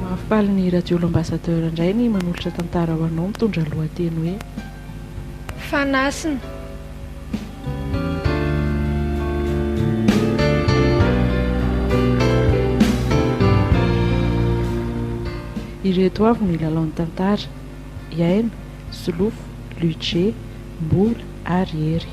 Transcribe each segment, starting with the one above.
Mahafaly ny Radio L'Ambassadeur indray ny manolotra tantara ho anao mitondra lohateny hoe. Fanasina. Ireto avy no ilalaon'ny tantara, Iaina, Solofo, Luce, Mbola ary Hery.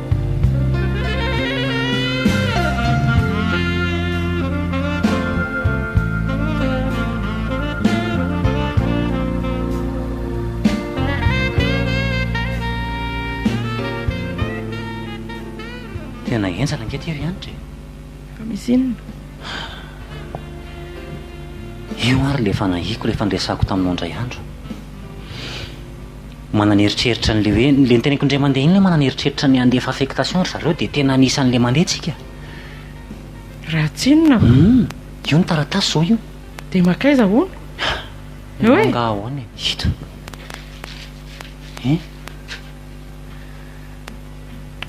Tena henjana ange ity ry Hanitra e! Fa misy inona? Io ary ilay fanahiako, ilay fandresako taminao indray andro. Manana eritreritra an'le hoe le niteneniko indray mandeha iny le manana eritreritra ny handefa affectation ry zareo dia tena anisan'le mandeha tsika. Raha tsinona aho. Hum, io ny taratasy zao io. Dia mankaiza hono? Io Oe! angaha ahoana e? Ito. Hein?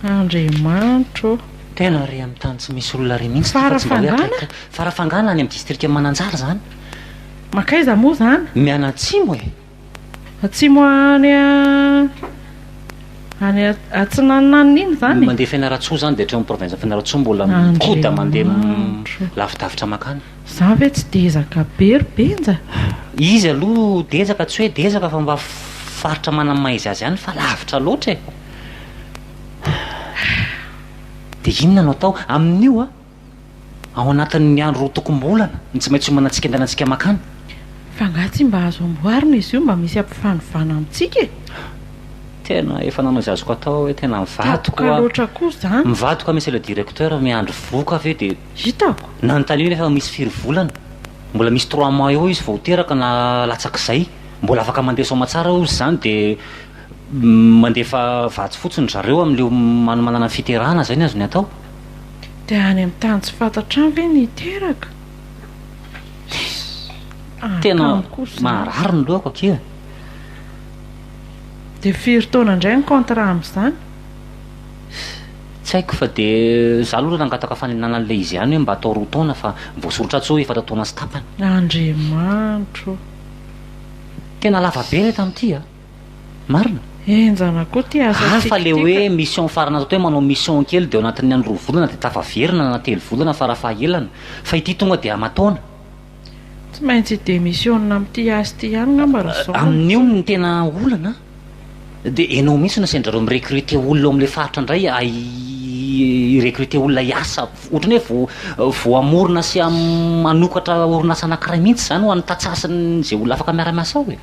Andriamanitro ô! Tena ary amin'ny tany tsy misy olona ary mihitsy ity fa tsy mba hoe Farafangana? akaiky ka. Farafangana any amin'ny distrikan'i Mananjary izany. Mankaiza moa izany? Mianatsimo e! Atsimo any any atsinananina iny zany e? Mandeha Fianarantsoa zany dia hatreo amin'ny province Fianarantsoa mbola mikoda mandeha lavidavitra makany. Za ve tsy dezaka be ry Benja? Izy aloha dezaka tsy hoe dezaka fa mba faritra manana maha izy azy ihany fa lavitra loatra e! Dia inona no atao amin'io a? ao anatin'ny andro roa tokom-bolana no tsy maintsy hiomanantsika andehanantsika mankany. Fa nga tsy mba azo amboarina izy io mba misy ampifanovana amintsika e? Tena efa nanao izay azoko atao aho e, tena mivadiko oa. Tatoka loatra koa izany. Mivadiko monsieur le directeur, miandry voka ve dia. Hitako. Nanontaniana aho fa misy firy volana, mbola misy trois mois eo izy vao ho teraka na latsak'izay, mbola afaka mandeha soamatsara hozy izany dia. Mandefa vatsy fotsiny zareo amin'ilay manomanana ny fiterahana, izay ny azony atao. Dia any amin'ny tany tsy fantatra any ve no hiteraka? Tena maharary ny lohako akia e! Dia firy taona indray ny contrat amin'izany? Tsy haiko fa dia izaho aloha nangataka fanenana an'ilay izy ihany hoe mba atao roa taona fa voasoritra atsy hoe efatra taona sy tapany. Andriamanitro ô! Tena lava be ilay tamin'ity a! Marina? Henjana koa ity asa tsikitika. Hafa le hoe mission farany ato hoe manao mission kely de ao anatin'ny any roa volana de tafaverina na telo volana fara fahaelana fa ity tonga de amataona. Tsy maintsy hi demissionina amin'ity asa ity ihany ngamba ry zandry. Amin'io no tena olana a. Dia ianao mihitsy no asain-dry zareo mi-recruter olona ao amin'ilay faritra indray hi-recruter olona hiasa. Ohatran'ny hoe vao hamorona sy hanokatra orinasa anankiray mihitsy izany ho an'ny tantsaha sy ny izay olona afaka miara-miasa ao e.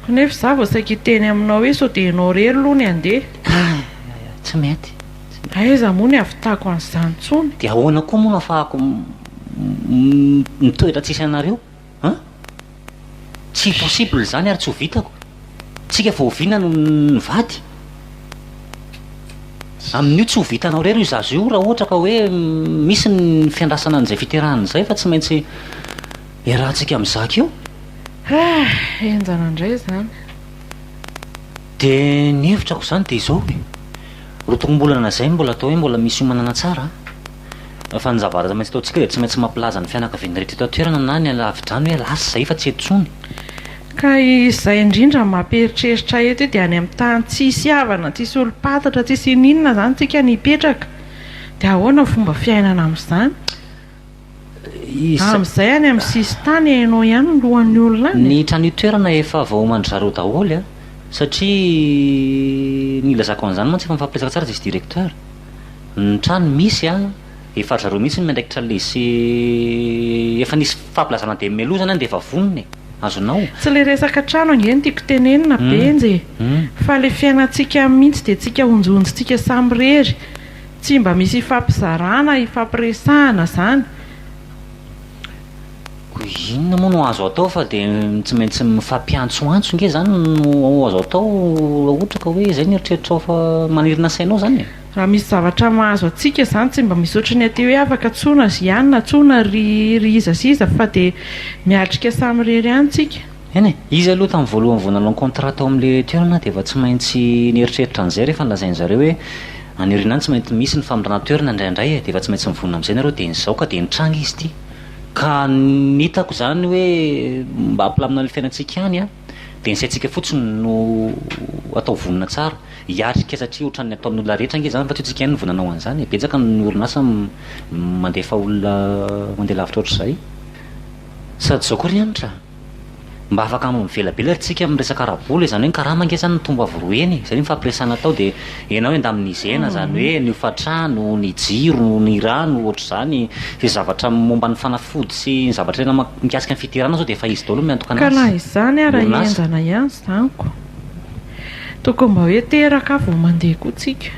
Kanefa izaho vao saika hiteny aminao hoe sao dia ianao irery aloha ny handeha. Kay, tsy mety, tsy mety. Aiza moa ny hahavitako an'izany intsony? Dia ahoana koa moa no hahafahako mitoetra tsisy anareo an? Tsy possible izany ary tsy ho vitako. Tsika vao oviana no nivady? Amin'io tsy ho vitanao irery io zaza io raha ohatra ka hoe misy ny fiandrasana an'izay fiterahana izay fa tsy maintsy. Iarahantsika mizaka eo? Ah! Henjana indray izany. Dia ny hevitrako izany dia izao e! Roton'bolana izay no mbola atao hoe mbola misy hiomanana tsara an! Fa ny zavatra tsy maintsy ataontsika dia tsy maintsy mampilaza ny fianakavian'ny rehetra eto an-toerana na ny any lavidrano hoe lasa izay fa tsy eto intsony. Ka izay indrindra no mampieritreritra eto io dia any amin'ny tany tsisy havana, tsisy olom-patatra, tsisy ininona izany tsika no hipetraka. Dia ahoana ny fomba fiainana amin'izany? Amin'izay any amin'ny sisin-tany hainao ihany ny lohan'ny olona any e! Ny trano itoerana efa voaoman-dry zareo daholo an! Satria ny ilazako an'izany mantsy efa mifampiresaka tsara izy sy directeur. Ny trano misy an, efa ry zareo mihitsy no miandraikitra le sy efa nisy fampilazana dia mialoha izany dia efa vonona e! Azonao? Tsy le resaka trano ange no tiako tenenina Benjy e! Fa le fiainantsika mihitsy dia tsika onjonjontsika samirery Tsy mba misy ifampizarana, ifampiresahana zany. Koa inona moa no azo atao fa dia tsy maintsy mifampiantsoantso nge zany no azo atao raha ohatra ka hoe izay no eritreritrao fa manirina sainao zany e. Raha misy zavatra mahazo antsika zany tsy mba misy ohatry ny aty hoe afaka tsoina ry Ana, tsoina ry iza sy iza fa dia miatrika samirery ihany tsika. Eny e! Izy aloha tamin'ny voalohany vao nanao contrat tao amin'ilay toerana dia efa tsy maintsy nieritreritra an'izay rehefa nolazain'i zareo hoe any aoriana any tsy maintsy misy ny famindrana toerana indraindray e! dia efa tsy maintsy mivonona amin'izay nareo dia izao ka dia nitranga izy ity ka ny hitako izany hoe mba hampilamina ny fiainantsika ihany an! dia ny saintsika fotsiny no atao vonona tsara hiatrika satria ohatran'ny ataon'olona rehetra ange izany fa tsy antsika ihany no vao nanao an'izany e! betsaka ny orinasa mandefa olona mandeha lavitra ohatr'izay sady izao koa ry Hanitra a! Mba afaka hanao mivelabela ary tsika amin'ny resaka ara-bola e, zany hoe ny karama ange zany nitombo avy roa heny e, zay ny fampiresana atao de enao endamin'ny zena zany hoe ny hofatrano, ny jiro, ny rano ohatr'izany, zay zavatra momba ny fanafody sy ny zavatra tena mikasika ny fiderana zao de efa izy daholo no miantokana azy, Ka na izany ara henjana ihany izany ko tokony mba hoe teraka vao mandeha koa tsika.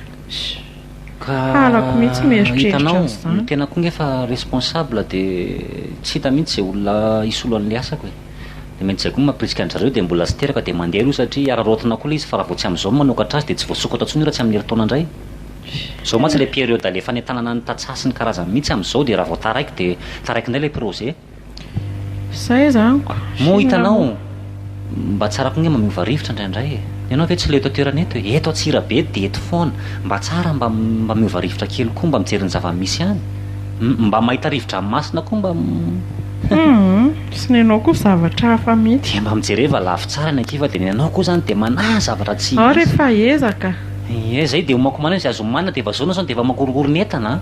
Halako mihitsy mieritreritra an'izany. Ka hitanao, ny tenako koa nge efa responsable dia tsy hita mihitsy izay olona hisolo an'ilay asako e. Dia mety izay koa no mampirisika an-dry zareo dia mbola tsy teraka dia mandeha aloha satria araraotina koa ilay izy fa raha vao tsy amin'izao no manokatra azy dia tsy voasokatra intsony io raha tsy amin'ny herintaona indray. Izao mantsy ilay période alefanay tanana ny tantsaha sy ny karazany mihitsy amin'izao dia raha vao taraiky dia taraiky indray ilay projet. Zay zany ko. Moa hitanao, mba tsara koa ange mamiova rivotra indraindray e! Ianao ve tsy leo eto an-toerana eto e? Eto Antsirabe dia eto foana. Mba tsara mba mba miova rivotra kely koa mba mijery ny zava-misy any. Hum, mba mahita rivo-dranomasina koa mba Hum, sy ny anao koa zavatra hafa mihitsy. Dia mba mijereva lafy tsara ny aty fa dia ny anao koa izany dia manahy zavatra tsy misy. Ao re fa ezaka. Ie, izay dia omakomanina izy azo omanina dia vazaonao izany dia efa makorokoro ny entana an!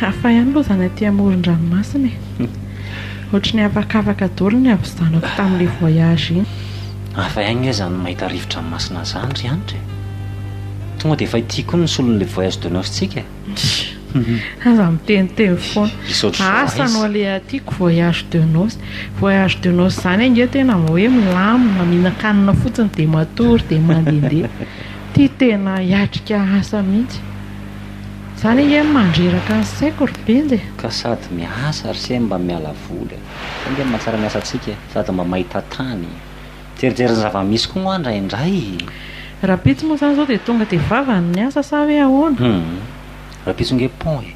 Hafa ihany aloha izany aty amoron-dranomasina e. Ohatry ny afakafaka daholo ny havizanako tamin'ilay voyage iny. Hafa ihany nge izany mahita rivo-dranomasina izany ry Hanitra e. Tonga dia efa ity koa ny solon'ilay voyage de noce-tsika e. Aza miteniteny foana. Asa no aleha tiako voyage de noce. Voyage de noce zany ange tena mba hoe milamina, mihinan-kanina fotsiny dia matory dia mandehandeha. Ty tena hiatrika asa mihitsy. Zany ange no mandreraka ny saiko ry Benja e. Ka sady miasa ry se mba miala voly. Zay ange no mahatsara ny asantsika e. Sady mba mahita tany. Mijerijery ny zava-misy koa moa indraindray e! Rapitso moa izany izao dia tonga dia vavany ny asa sa hoe ahoana? Hum, rapitso ange pont e!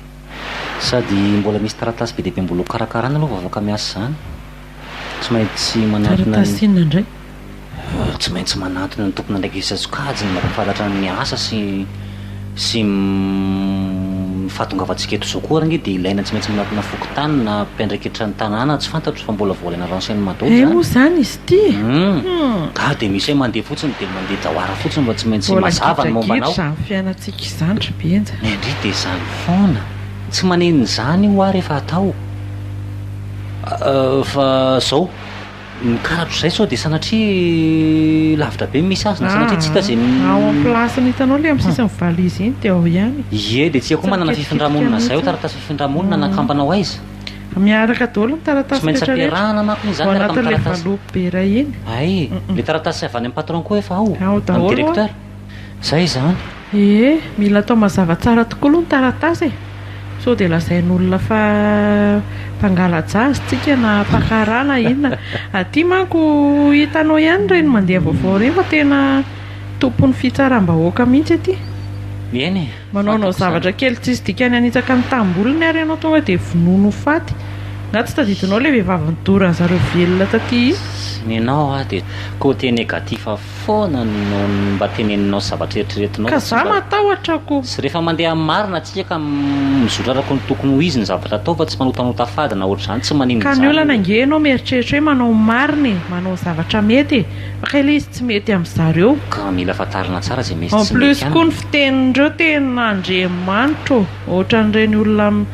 Sady mbola misy taratasy be dia be mbola ho karakarana aloha vao afaka miasa izany. Tsy maintsy manantona ny. Taratasy inona indray? Tsy maintsy manantona ny tompon'andraikitra sy sokajiny mba hampahafantatra ny asa sy. sy ny fahatongavantsika eto izao koa ary ange dia ilaina tsy maintsy manatona fokontany na mpiandraikitra ny tanàna tsy fantatro fa mbola voalaina renseignement daholo izany. Hay moa izany izy ity e! Humm! Ga dia misy hay mandeha fotsiny dia mandeha jawara fotsiny fa tsy maintsy mazava ny momba anao. Mbola gidragidratra izany fiainantsika izany ry Benja. Ny an-dry dia izany foana. Tsy manenina izany hoa rehefa atao fa izao. Ny karatra izay sao dia sanatria lavitra be ny misy azy na sanatria tsy hita izay. Ah, ao amin'ny place-ny hitanao ilay amin'ny sisin'ny valizy iny dia ao ihany e. Ie, dia tsia koa manana fifindrà-monina izay ao, taratasy fifindrà-monina anakambana ao aiza? Miaraka daholo ny taratasy rehetra rehetra. Tsy maintsy ampiarahana manko izy izany miaraka amin'ny taratasy. Ao anatin'ilay valopy be iray iny. Hay, ilay taratasy avy any amin'ny patron koa efa ao, amin'ny directeur. Izay izany? Ee, mila atao mazava tsara tokoa aloha ny taratasy e! Sao dia lazain'olona fa mpangala-jazz tsika na mpakarà na inona. Aty manko hitanao ihany ireny mandeha vaovao ireny fa tena tompon'ny fitsaram-bahoaka mihitsy aty. Eny e, Manaonao fantako izany. zavatra kely tsisy dikany hanitsaka ny tanimbolony ary ianao tonga dia vonoiny ho faty. Angaha tsy tadidinao ilay vehivavy nidora an'zareo velona taty? Sy nenao aho dia côté négatif avokoa. foana no mba teneninao sy zavatra eritreretinao. Ka za matahotra ko. Sy rehefa mandeha amin'ny marina tsika ka mizotra araka ny tokony ho izy ny zavatra atao fa tsy manotanota fady na ohatr'izany tsy maninona izany. Ka ny olana ange enao mieritreritra hoe manao ny marina e, manao zavatra mety e, fa kay le izy tsy mety amin'ny zareo. Ka mila fantarina tsara izay misy tsy mety aminy. En plus koa ny fitenin'ireo tena Andriamanitra ô. Ohatran'ireny olona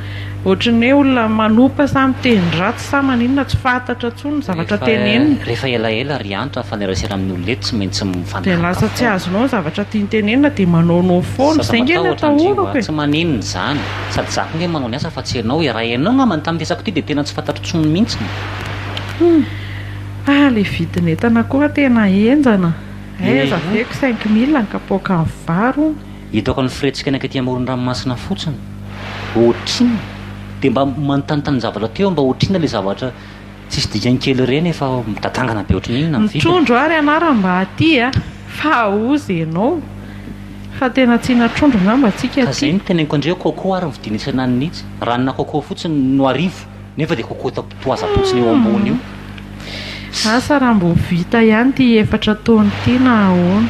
ohatry ny hoe olona manopa sa miteny ratsy sa maninona tsy fantatra tsony ny zavatra tenenina. Rehefa elaela ry Andry raha mifanerasera amin'ny olona eto tsy maintsy mifanaraka foana. Dia lasa tsy azonao ny zavatra tiany tenenina dia manaonao foana. Izay nge ny atahorako e. Tsy maninona izany. Sady izaho koa nge manao ny asa fa tsy ianao e. Raha ianao angamba ny tamin'ny resako ity dia tena tsy fantatro tsony mintsy. Ah ilay vidin'entana koa tena henjana. Aiza ve ko cinq mille ny kapoakan'ny vary hono. Hitako ny firetsika any ankety amoron-dranomasina fotsiny. Otrina dia mba manontanitan zavatra teo mba otrina le zavatra tsisy dikany kely ireny efa midatangana be otriny inona ny vidiny. Mitrondro ary anara mba aty a! Fa aoz enao! Fa tena tsina trondro ngamba tsika aty. Ka zay no teneniko andreo coco ary ny vidiny isan'an'ny itsy ranona coco fotsiny no arivo. Nefa dia cocotte poison-potsiny eo ambony io. Asa raha mbo vita ihany ity efatra taona ity na ahoana.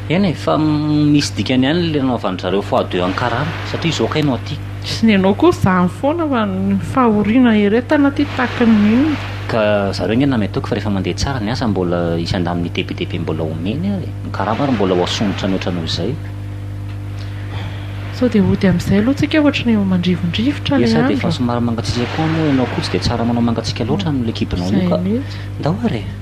Eny e, fa misy dikany ihany ilay nanaovan'ny zareo fois deux an'i Karana, satria izao kay no aty. Sy ny anao koa izany foana fa ny fahoriana eretana aty takin'ny inona. Ka zareo ange nameto ok fa rehefa mandeha tsara ny asa mbola hisy andamin'ny debedebe mbola omeny ary ny karama ary mbola ho asongotra mihoatra noho izay. Sao dia hody amin'izay aloha tsika ohatra ny eo mandrivondrivotra ilay andro. Efa efa somary mangatsiaka koa moa ianao koa tsy dia tsara manao mangatsiaka loatra amin'ilay kibonao io ka. Ndao ary e!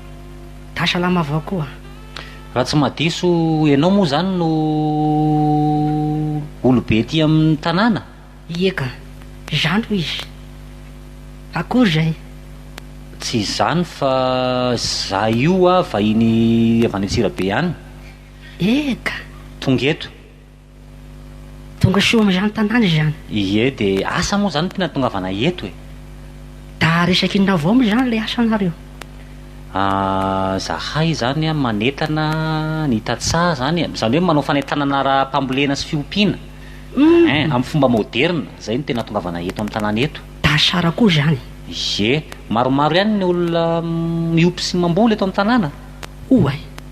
Da salama avao koa. Raha tsy mahadiso enao moa zany no olobe aty aminy tanàna? Ie ka. Zany hoy izy. Akory zay. Tsy izany fa za io a vahiny avy any Antsirabe any. Eka. Tonga eto. Tonga soa amin'izany tanàna izany. Ie de asa moa zany tena tongavana eto e! Da resaky inona avao moa izany ilay asanareo? Ahh, zahay izany an, manentana ny tantsaha izany e, izany hoe manao fanentanana ara-pambolena sy fiompiana, Humm! Ein, amin'ny fomba moderina, izay no tena tongavana eto amin'ny tanàna eto. Da tsara koa izany. Ie, maromaro ihany ny olona miompy sy mamboly eto amin'ny tanàna? Oay!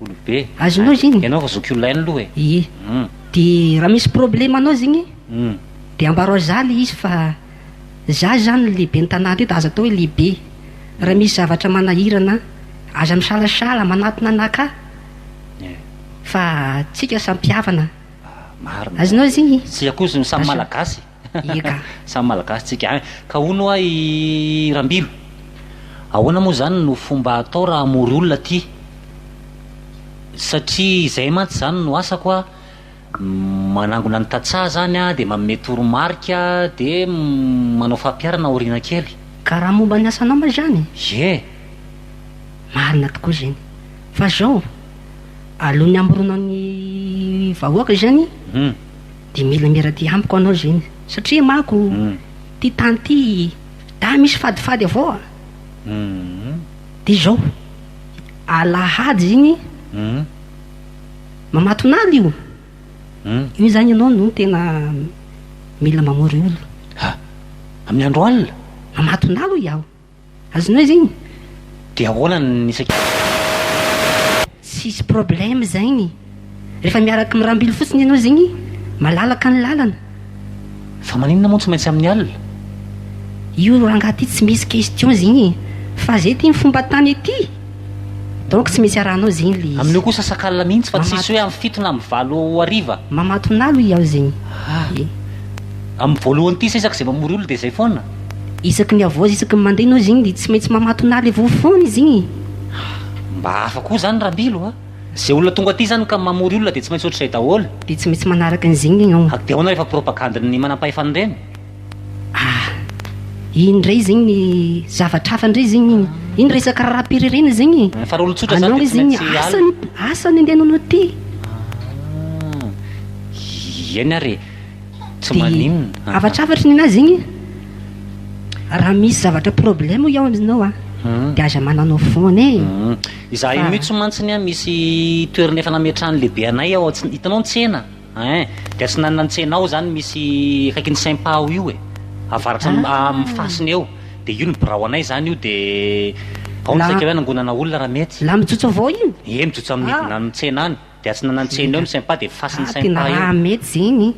Olobe. Azonao zegny. Ianao efa zoky olona hain'loha e. Ie. Hum. De raha misy problème anao zegny, Hum. de ambarao za le izy fa za zany ny lehiben'ny tanàna teto, aza atao hoe lehibe. Raha misy zavatra manahirana an, aza misalasala manatona anakah, Ie. fa tsika samy mpihavana. Marina. Azonao zegny. Tsika koa samy malagasy. Eka. Samy Malagasy tsika any. Ka hono hoa i Rambilo, ahoana moa izany no fomba atao raha hamory olona aty? Satria izay mantsy izany no asako a, manangona ny tantsaha izany a, dia manome toromarika, dia manao fampiharana aoriana kely. Ka raha momba ny asanao moa izany? Ie. Marina tokoa izany. Fa izao, alohan'ny hamoronao ny vahoaka izany, Hum. Dia mila miaradia amiko anao Zeny satria mako ty tany ty da misy fadifady avao a! Dia izao, alahady iny mamatonala io, io zany ianao no tena mila mamory olo. Amin'ny andro alina? Mamatonala hoy aho. Azonao izy igny? De ahoana ny isan-kerinandro? Tsisy problème zegny. Rehefa miaraky mirambily fotsiny ianao zegny, malalaka ny lalana. Fa maninona moa tsy maintsy amin'ny alina? Io rangahy ty tsy misy question zegny e! Fa zay ty ny fomba tany ety! Donc tsy maintsy arahanao zegny le izy. Amin'io kosa sakala mihitsy fa tsisy hoe amin'ny fito na amin'ny valo hariva. Mamatonalo iaho zegny. Amin'ny voalohany ty sisa k'izay mamory olona de zay foana. isaky ny havoazy isaky ny mandeha ianao izy igny dia tsy maintsy mamatona ahy le voa foana izy igny. Mba hafa koa zany Rabilo a! Ze olona tonga aty zany ka mamory olona dia tsy maintsy ohatr'izay daholo. Dia tsy maintsy manaraka an'izy igny ianao. Ary dia ahoana rehefa propagande-n'ny manampahefana ireny? Ah! Iny indray izy igny ny zavatra hafa indray izy igny iny. Iny resaka raharaham-pirenena izy igny. Fa raha olon-tsotra zany dia tsy maintsy alina. Anao izy igny asa ny asa ny andehananao aty. Ah! Eny ary e! Tsy maninona. Dia havatravatry ny anazy igny a. Raha misy zavatra problème hoy aho aminao a. Dia aza mananao phone e. Izahay mitsy mantsy ny a misy toerana efa nametrahan'ny lehibe anay ao tsy hitanao ny tsena ein dia atsinanana ny tsena ao izany misy akaikin'ny sympa ao io e avaratra amin'ny fasiny eo dia io ny birao anay izany io dia ao ny saika hoe hanangonana olona raha mety. La mijotso avy ao io? Ie mijotso amin'ny hidinan'ny tsena any. Dia tsy nanan-tsiny eo ny sympa dia fasin' ny sympa eo. Tena raha mety zegny,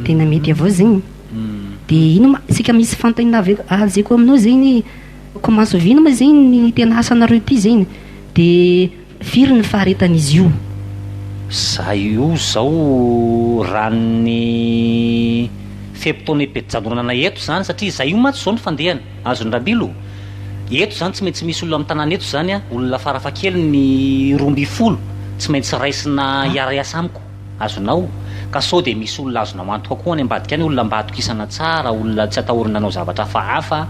tena mety avao zegny. Dia ino ma isika misy fanontaniana avy azeko aminao zegny hoe comment se vit-ny ma zegny ny tena asanareo ity zegny? Dia firy ny faharetan'izy io? Za io zao raha ny fe-potoana ipetrahan'olona anay eto zany satria za io mantsy zao ny fandehany. Azony Rabilo? Eto zany tsy maintsy misy olona am tanàna eto zany a, olona farafahakeliny roa ambin'ny folo tsy maintsy raisina hiara-hiasa amiko, azonao? Ka sao dia misy olona azonao antoka koa any ambadika any, olona mba atokisana tsara, olona tsy atahorana hanao zavatra hafahafa,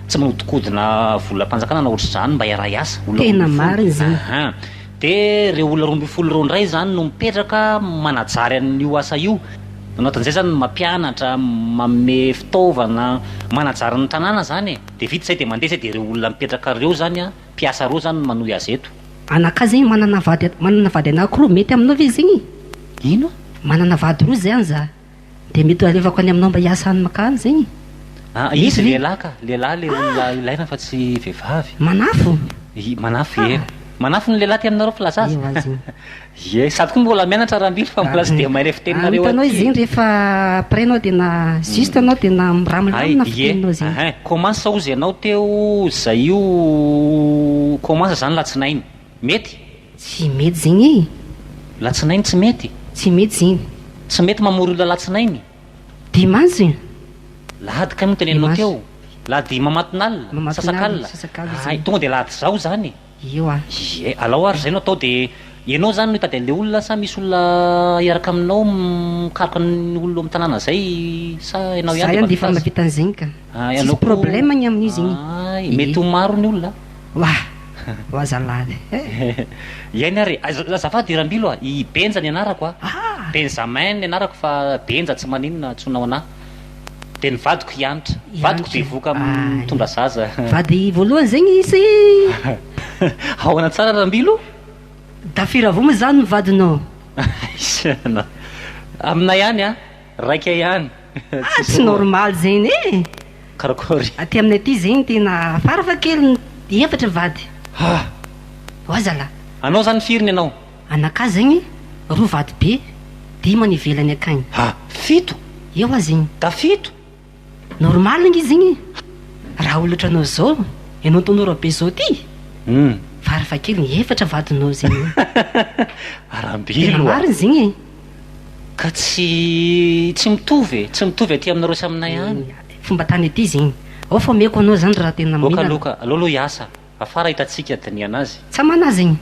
tsy manodikodina volam-panjakana na ohatr'izany, mba hiara-hiasa, olona roa ambin'ny folo, ahaa. Dia ireo olona roa ambin'ny folo ireo indray izany no mipetraka manajary an'io asa io. Nanaotan'izay izany mampianatra, manome fitaovana, manajary ny tanàna izany e. Dia vita izay dia mandeha izay dia ireo olona mipetraka ireo izany, mpiasa ireo izany no manohy azy eto. Anakahy zegny manana vady manana vady anakiroa mety aminao ve zegny? Ino? Manana vady roa zany za. Dia mety ho alevako any aminao mba hiasa any makany zegny? Ah, izy Izy. lehilahy ka, lehilahy le olona ilaina fa tsy vehivavy. Manafo? I- Manafo Ah. iera. Manafo ny lehilahy aty aminareo filaza azy. Eo azy io. Ie, sady koa mbola mianatra Rambilo fa mbola tsy dia mahay ilay fiteninareo Ah, hitanao aty. izy zegny rehefa après anao dia na juste anao dia na Ay, miramilamina ie. fiteninao zegny. Ahay, commence hozy ianao teo, zay io commence zany latsinainy. Mety? Tsy mety zegny e! Latsinainy tsy mety? Tsy mety zegny. Tsy mety mamory olona alatsinainy? Dimanche e! Lahady kay no teneninao teo? Lahady mamatin'alina? Sasak'alina? Hay, tonga dia lahady zao zany e! Io an! Ie, alao ary zay no atao dia ianao zany no hitady an'le olona sa misy olona hiaraka aminao mikaroka ny olona ao amin'ny tanàna zay sa ianao ihany dia mampita azy? Za ihany dia efa nampita an'zegny ka! Tsisy problème ny amin'izy igny. Ay, mety ho maro ny olona. Wa! wa zalahy eh! Iaina ary e! Aiza, azafady i Rambilo a! I Benja ny anarako a! Ah! Benjamin ny anarako fa Benja tsy maninona antsoina ho anah. Dia ny vadiko i Hanitra. I Vadiko Hanitra. bevoka Ay. mitondra zaza. Vady voalohany zegny izy? Ahoana tsara Rambilo? Dafira Voma zany ny vadinao? Aiza ianao! Aminay any a! Raika ihany. Ah tsy normal zegny eh! Karakory. Aty aminay aty zegny tena fara fa kely ny efatra mivady. Ah! Oa zalah. Anao zany firy ny anao? Anakah zegny roa vady be, dimy any ivelany akagny. Ah! Fito. Eo oa zegny. Da fito. Normal ngy izy igny raha olatra anao zao ianao tanora be zao ty farafa kely efatra vadinao zegny tena marigny zegny e. Ka tsy tsy mitovy e, tsy mitovy aty aminareo sy aminay any. Fomba tany aty zegny, ao fa omeko anao zany raha tena mila. Oka loka, aleo aloha hiasa. Afara hitantsika diniana azy. Tsa manazigny.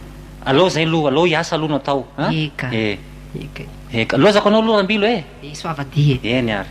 Aleo zay aloha, aleo hiasa aloha no atao an! Eka. Eka e. Eka. Lozako anao aloha Rambilo e! E soavadia e! Eny ary.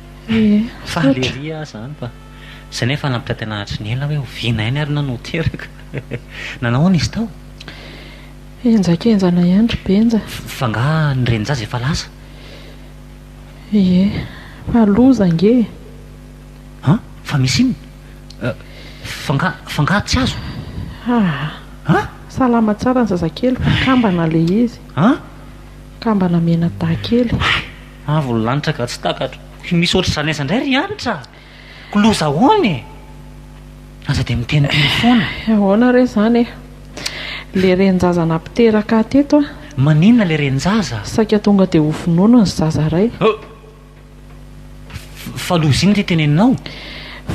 Faly ery aho zany fa zay nefa nampita tena hatry ny ela hoe oviana ihany ary nano teraka nanao ahoana izy tao? Henjakenjana ihany ry Benja. Fa angaha ny renin-jaza efa lasa? Ie, fa loza ange e! An! Fa misy inona? Fa angaha, fa angaha tsy azo? Aa! An! Salama tsara ny zazakely fa kambana ilay izy. An! Kambana mena dahy kely. Avo ny lanitra ka tsy takatro. Tsy misy ohatr'izany aiza indray ry Hanitra a! Ko loza ahoana e! Aza dia miteniteny foana. Ahoana re izany e! Ilay renin-jaza nampiteraka ahy teto a! Maninona ilay renin-jaza? Saika tonga dia ho vonono ny zaza iray. Ho! Fa loza inona ity teneninao?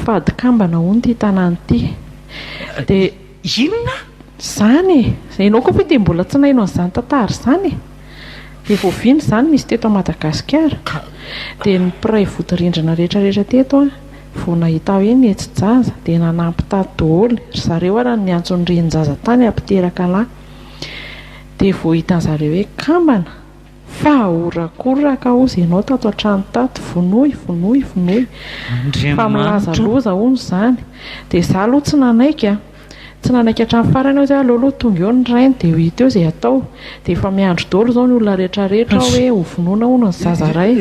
Fady kambana hono ity tanàna ity. Dia. Inona izany e? Ianao koa ve dia mbola tsy naino an'izany tantara izany e? Dia vao vino izany nisy teto Madagasikara, dia ny mpiray vodirindrina rehetrarehetra teto an, vao nahita hoe netsy jaza dia nanampy tato doholy, ry zareo ara no niantso ny renin-jaza tany hampiteraka lahy, dia vao hitan'zareo hoe kambana, Fa horakoraka hozy ianao tato an-trano tato, vonoy, vonoy, vonoy. Fa milaza loza hono izany. Dia izaho aloha tsy nanaiky an. Tsy nanaiky hatramin'ny farany aho, izay aleo aloha tonga eo ny rainy dia hita eo izay hatao. Dia efa miandry daholo izao ny olona rehetrarehetra ao hoe hovonoina hono ny zaza iray.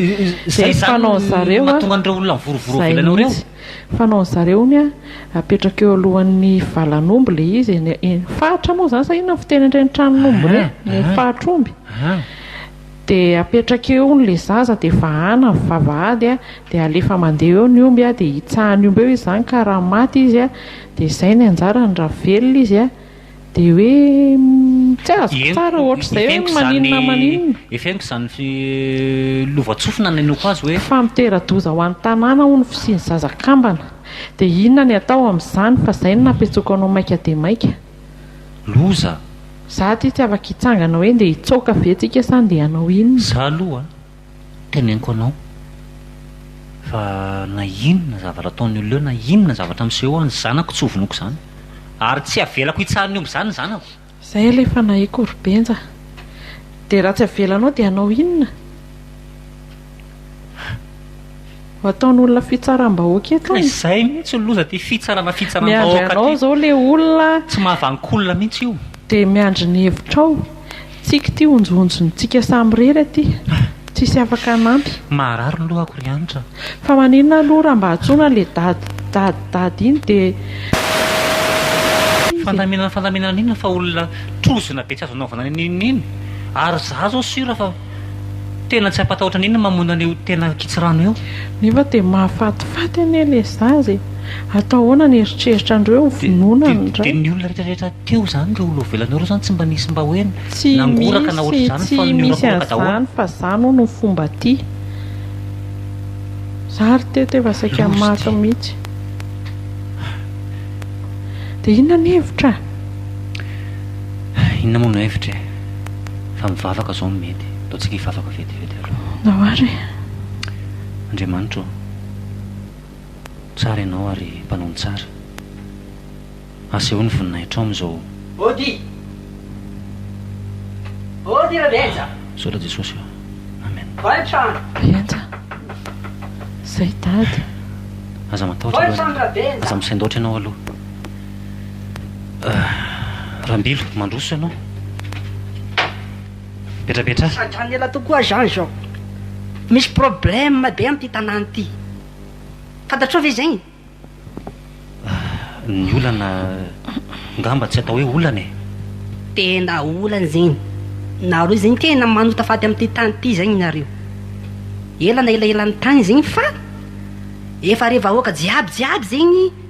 Izay izany no mahatonga an'ireo olona mivorovoro ao ivelany ao ireo. Fanaon'ny zareo hono an, apetraka eo alohan'ny valan'omby ilay izy eny, eny faritra moa izany sa inona ny fiteny an'ireny tranon'omby ireny, eny amin'ny faritr'omby, dia apetraka eo hono ilay zaza dia vahana ny vavahady an, dia alefa mandeha eo ny omby an, dia hitsahan'ny omby eo izy izany ka raha maty izy an, dia izay ny anjarany raha velona izy an, Dia hoe tsy azoko tsara ohatr'izay hoe maninona maninona. Eferiko izany lovantsofina nanenoko azy hoe. Fa mitera-doza ho an'ny tanàna hono ny fisian'ny zaza kambana. Dia inona ny atao amin'izany fa izay no nampihantsoako anao maika dia maika. Loza. Za aty tsy afaka hitsangana hoe ndeha hitsaoka ve tsika sa ndeha hanao inona. Za aloha. Teneniko anao fa na inona zavatra ataon'ny olona eo, na inona zavatra misehoa ny zanako tsy ho vonoiko izany. Ary tsy avelako hitsahan'ny omby izany ny zanako. Izay ilay fanahiko ry Benja. Dia raha tsy avelanao dia hanao inona? Ataon'olona fitsaram-bahoaka eto e. Izay mihintsy ny loza ty fitsarana fitsaram-bahoaka ty. Miandry anao zao le olona. Tsy mahavanon-kolona mihintsy io. Dia miandry ny hevitrao. Tsiky ty onjonjon'ny tsika samy rery aty. Tsisy afaka hanampy. Maharary ny lohako ry Hanitra. Fa maninona aloha raha mba antsoina le dady dady dady iny dia. Fandaminana fandaminana inona fa olona trozona be tsy azo anaovana n'inon'inona. Ary za zao sur fa. Tena tsy hampatahotra an'inona mamono an'io tena ankitsirano io. Nefa dia mahafatifaty anie le zaza e! Atao ahoana ny eritreritra andreo hoe hovonoina ny ray? Dia ny olona rehetra rehetra teo zany ireo olona vovelany ireo zany tsy mba nisy mba hoe nangoraka na ohatr'izany fa niorakoraka daholo. Tsy misy an'izany fa zany hono ny fomba aty. Za ary teto efa saika maty mihitsy. Dia inona ny hevitra? Inona moa no hevitra e? Fa mivavaka zao no mety. Ataontsika hivavaka vetivety aloha. Andao ary e. Andriamanitra ô, tsara Ianao ary Mpanao ny tsara. Asehoy ny voninahitrao amin'izao. Ody! Ody ry Benja! Misaotra Jesosy ô. Amen. Voantrano! Benja! Zay Dada! Aza matahotra aloha. Voantrano ra Benja! Aza misaindaotra Ianao aloha. Rambilo, mandroso ianao. Petrapetraha. Sadrany ela tokoa Jean izao. Misy problème be amin'ity tanàna ity. Fantatrao ve izay? Ny olana ngamba tsy atao hoe olana e. Tena olana izany. Nareo izany tena manota faty amin'ity tany ity izany nareo. Ela na elaelan'ny tany izany fa efa re vahoaka jiaby jiaby izany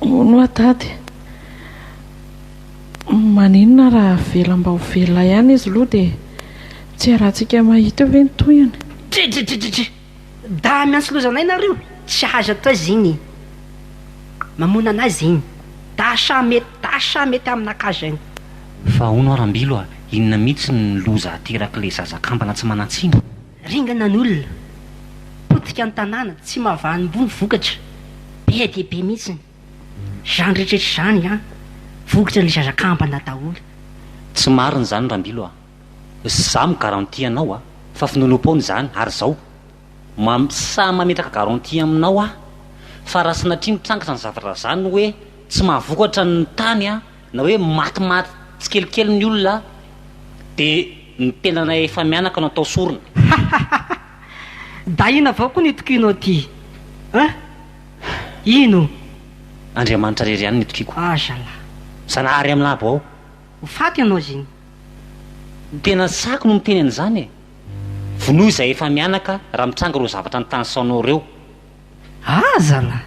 Hono oa tady maninona raha avela mba ho velona ihany izy loha dia tsy iarahantsika mahita eo ve ny tohiny? Dridridridridri! Dahy miantsilozanay nareo, tsy hahazo atao izy iny, mamoana anay izy iny, dahy sa mety, dahy sa mety aminakahy izany. Fa hono oa Rambilo a, inona mihitsy no loza aterak'ilay zaza kambana tsy manan-tsiny? Ringana ny olona, potika ny tanàna, tsy mahavanim-bo ny vokatra, be dia be mihitsiny. Izany rehetra izany an, vokatra ny zaza kambana daholo. Tsy marina izany Rambilo a! Za mi garantie anao a! Fa finoanoam-poana izany, ary zao, mam, sahy mametraka garantie aminao aho fa raha sanatria mitrangatra ny zavatra zany hoe tsy mahavokatra ny tany an, Na hoe matimaty tsikelikely ny olona dia ny tenanay efa mianaka no atao sorona. Hahahaha! Dahina avao koa ny tokinao ty an! Ino? Andriamanitra rery ihany ny tokiko. Ah zala. Zanahary amin'ny labo ao. Ho faty ianao ziny. Tena saky no miteny an'izany e! Vonoy izay efa mianaka raha mitranga ireo zavatra nitanisaonao ireo. Aza lah!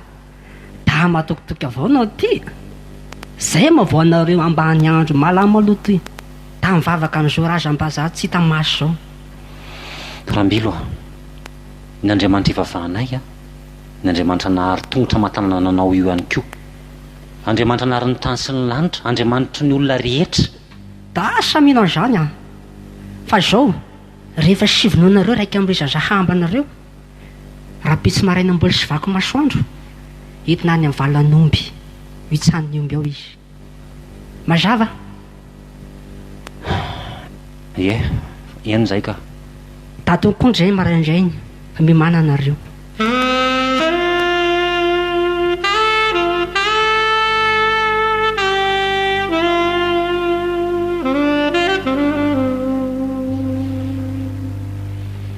Dahy matokitoky avao no aty e! Zay moa vao anareo ambany andro malama aloha toy tamin'ny vavaka an'i Joraj am-bazaha tsy hita maso zao. Rambilo a! Ny Andriamanitra ivavahanay a! Ny Andriamanitra nahary tongotra aman-tanana nanao io ihany koa. Andriamanitra nahary ny tany sy ny lanitra, Andriamanitry ny olona rehetra. Dahy samia an'izany a! Fa zao, rehefa sivonoinareo iraika amby roa isan-jaha ambanareo, Rahampitso maraina mbola sy vaky masoandro, entina any amin'ny valan'omby, hitsanin'ny omby ao izy. Mazava? Ie, eny izay ka. Datin'ny konjy izay maraina indray ny mimananareo.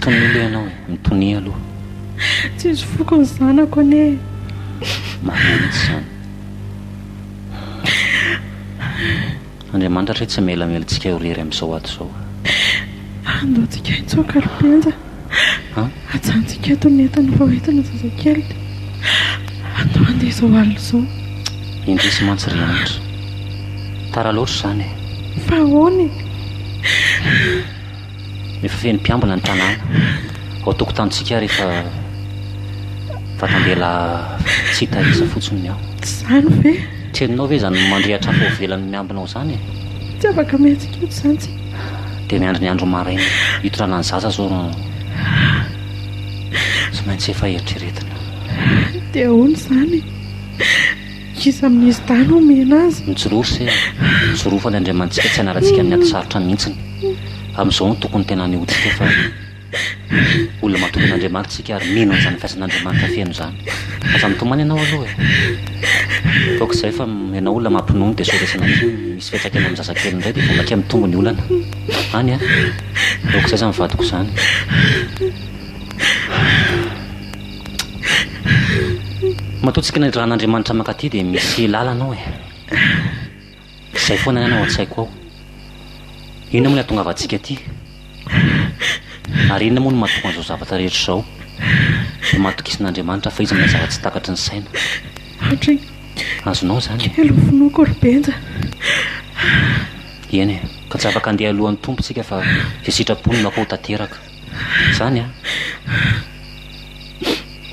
Tonia aloha ianao e, mitonia aloha. Tsisy foko ny zanako anie e. Marina mihitsy izany. Andriamanitra hatrizay tsy mamelamela antsika ho irery amin'izao ato izao. Andaontsika hitsoaka ry Penja. Ajanontsika eto ny entana fa hoentina zazakely dia andao handeha izao alina izao. Indrisy mantsy ry Andry. Tara loatra izany e. Fa ahoana e? Efa feno mpiambina ny tanàna ao tokotanintsika rehefa vatambela tsy hita isa fotsiny ny ao. Tsy izany ve? Tsy henonao ve izany mandrehatra afo ivelan'ny miambina ao izany e? Tsy afaka mihetsika eto izany tsy. Dia miandry ny andro maraina hitondrana ny zaza izao no tsy maintsy efa eritreretina. Dia ahoana izany e? Iza amin'izy dahy no omena azy? Mijoroa se a! Mijoroa fa ny Andriamanitsika tsy hanarantsika amin'ny ady sarotra mihitsiny. Amin'izao no tokony tena hanehoantsika fa olona matoky an'Andriamanitra isika ary mino an'izany fihazan'Andriamanitra feno izany. Aza mitomany ianao aloha e! Ataoko izay fa ianao olona mampinono dia sao resy nankeo misy fiantraikany amin'ny zazakely indray dia vao mainka mitombo ny olana. Any a! Aoka izay izany vadiko izany. Matoa tsy kinaidrahan' Andriamanitra mankaty dia misy lalana ao e. Izay foana ihany ao an-tsaiko ao. Inona moa ny hahatongavantsika aty? Ary inona moa no mahatonga an'izao zavatra rehetra izao? Dia matokisana Andriamanitra fa izy manao zava-tsy takatry ny saina. Hatry ny Azonao izany e. kely ho finoako ry Benja. Eny e, ka tsy afaka handeha alohan'ny Tompo isika fa izay sitrapony no atao tanteraka. Zany an!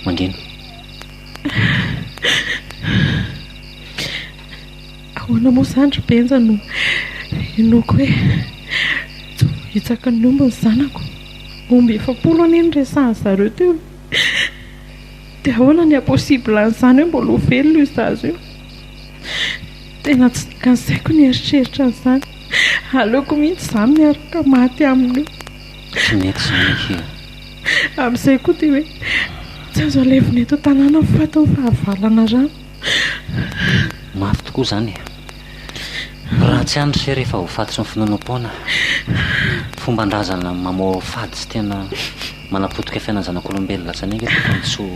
Mangina. Ahoana moa izany ry Benja no hinoako hoe tsy voahitsaka ny omby ny zanako? Omby efapolo anie ny resahan-dry zareo teo. Dia ahoana ny haha-possible an'izany hoe mbola ho velona io zaza io? Tena tsy tokony asaiko ny hieritreritra an'izany. Aleoko mihitsy izaho miaraka maty aminy eo. Tsy mety izany akia ô! Amin'izay koa dia hoe tsy azo alevina eto an-tanàna ny fatin'ny fahavalana rano. Mafy tokoa izany e! Raha tsy any se rehefa voafatotry ny finoanoam-poana, fomban-drazana mamoha fady sy tena manapotika fiainan'ny zanak'olombelona atsy aneva eto fa tsy ho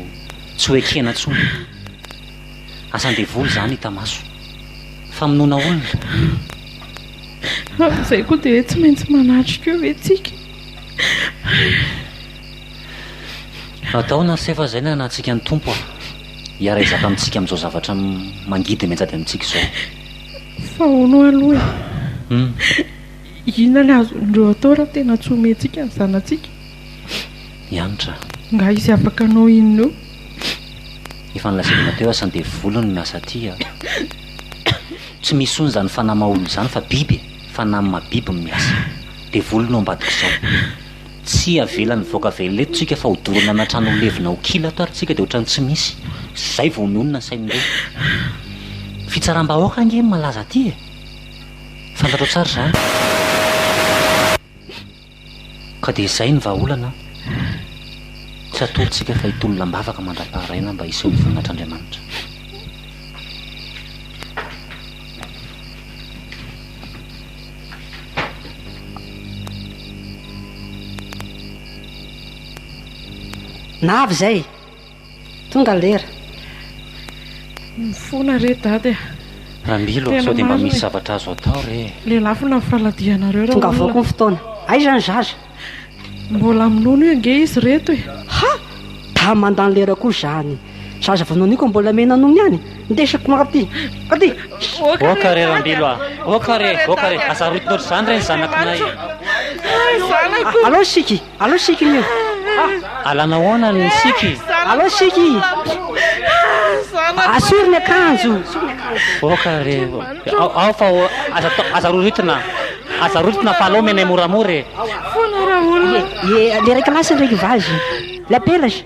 tsy ho ekena intsony. Asan-devoly izany hita maso. Famonoana olona. Ary izay koa dia tsy maintsy manatrika eo ve tsika? Atao na tsy efa izay ny anantsika ny Tompo a! Hiara hizaka amintsika amin'izao zavatra mangidy mianjady amintsika izao. Fa hono aloha e! Hum. Inona ny azon'ireo atao raha tena tsy homentsika ny zanatsika? I Hanitra. Angaha izy afaka hanao inona eo? Efa nilazainao teo asa ny devoly no miasa aty a! Tsy misy ony zany fanahy maha olona zany fa biby e! Fanahy maha biby no miasa. Devoly no ambadik'izao. Tsy avelany mivoaka avy ela eto tsika fa ho dorana ana trano ho levona ho kila ato ary tsika de otrany tsy misy. Zay vao mionona ny sain'ireo. Fitsaram-bahoaka ange no malaza aty e! Fantatrao tsara zany. Ka dia izay ny vahaolana an! Tsy atorontsika fa hitolona am-bavaka mandra-paharaina mba hiseho ny voninahitr'Andriamanitra. Na avy izay, Tonga lera. Mifona re dady a. Ramilo a, sao dia mba misy zavatra azo atao re e. Lelafo na faladianareo raha olona. Tongavaoko ny fotoana. Aiza ny zaza? Mbola minono io ange izy reto e. Ha! Dama mandany lera koa izany. Zaza vao noniko mbola mena nono ihany. Ndesiko ho aty. Aty. Oka re Ramilo a. Oka re, oka re. Aza arotina ohatr'izany re ny zanakinay. Hay zanako. Alao isika. Allo Siky io ah! Alana ahoana ny Siky? Allo Siky! Asoro ny akanjo! Oka re, ao fa aza roritina, aza roritina fa alao menay moramora e! Foana raha olona! Le raiky lasy, le raiky vazo! La perche!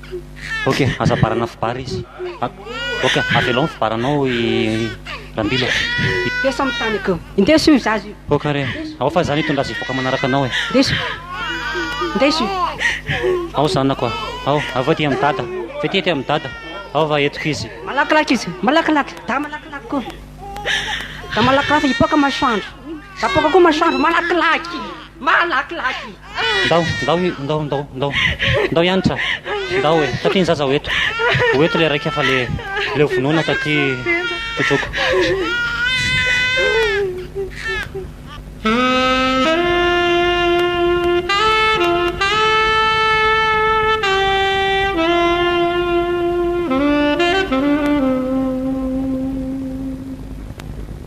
Ok, aza ambarana fibara izy. Ok, avelao ny fibaranao i Rambilo a. Ndeso amin'ny tany akao. Indeso io zaza io. Ok re. Ao fa izany hitondra azy hivoaka manaraka anao e. Ndeso. Ndeso io. Ao zanako a. Ao, avy eo aty amin'i dada. Fety aty amin'i dada. Ao va entiko izy. Malakilaky izy. Malakilaky. Dahy malakilaky koa. Dahy malakilaky hipoaka masoandro. Dahy poaka koa masoandro. Malakilaky. Malakilaky. Ndao, ndao, ndao, ndao, ndao, ndao hianatra. Ndao e, taty ny zaza ho eto. Ho eto le raika fa le le ho vonoina taty totroko.